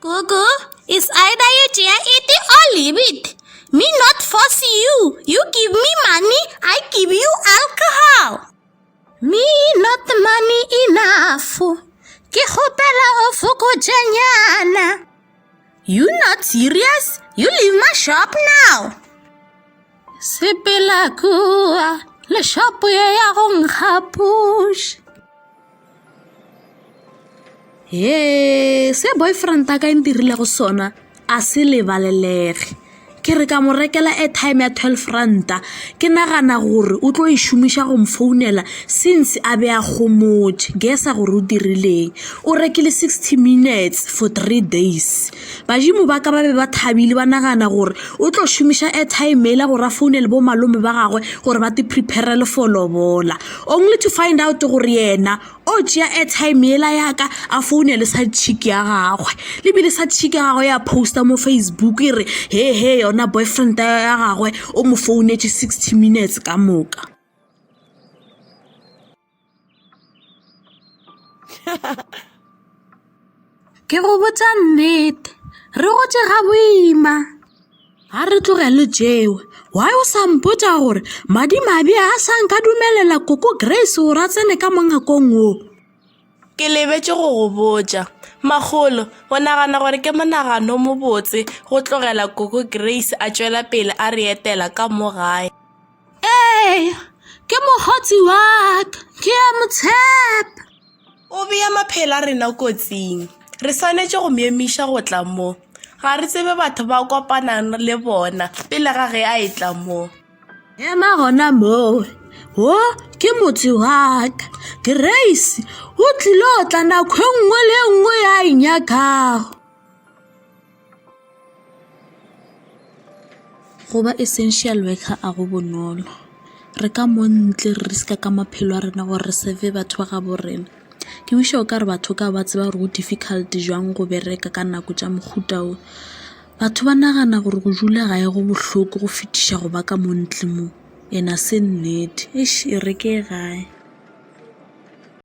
Gugu, it's either you tšea it or leave it. Me not force you. You give me money, I give you alcohol. Me not money enough. Ke hopela o fokotšenyana. You not serious? You leave my shop now. Sepela kua, le shop ye ya go nkga push. Hee, se boyfriend a ka e ntirilego sona a se lebalelege ke re ka mo rekela airtime ya twelve ranta ke nagana gore o tlo e šomiša go mfounela since a be a gomotše guess-a gore o dirileng o rekile sixty minutes for three days. Badimo ba ka ba be ba thabile ba nagana gore o tlo šomiša airtime ela gore a founele bo malome ba gagwe gore ba te preparele for lobola only to find out gore yena o tšea airtime ela yaka a founele sa chick ya gagwe lebile sa chick ya gagwe ya poster mo facebook e re he he yona boyfriend ya gagwe o mo founetše sixty minutes ka moka ke go botsa nnete re gotse ga boima ga re tlogele jewe why o sa mpotsa gore madimabe a sa nka dumelela koko grace gore a tsene ka mongakong o ke lebetse go go botsa magolo o nagana gore ke monagano mobotse go tlogela koko grace a tswela pele a re etela ka mo gae Ee, ke mokgotsi wa ka, ke a mo tshepa. O bea maphelo a rena kotsing. Re swanetše go mo emiša go tla mo. Ga re tsebe batho ba kopanang le bona pele ga ge a etla mo. Ema gona moo. Wo ke motse wa ka. Grace o tlilo tla nako e nngwe le e nngwe ya e nyakago. Go ba essential worker a go bonolo, re ka mo ntle re risk-a ka maphelo a rena gore re serve batho ba gaabo rena. Ke wish-a o ka re batho ka ba tseba gore go difficult jwang go bereka ka nako tša mohuta wo. Batho ba nagana gore go dula gae go bohloko go fetiša go ba ka mo ntle mo, and-e ga se nnete, eish e re ke ye gae.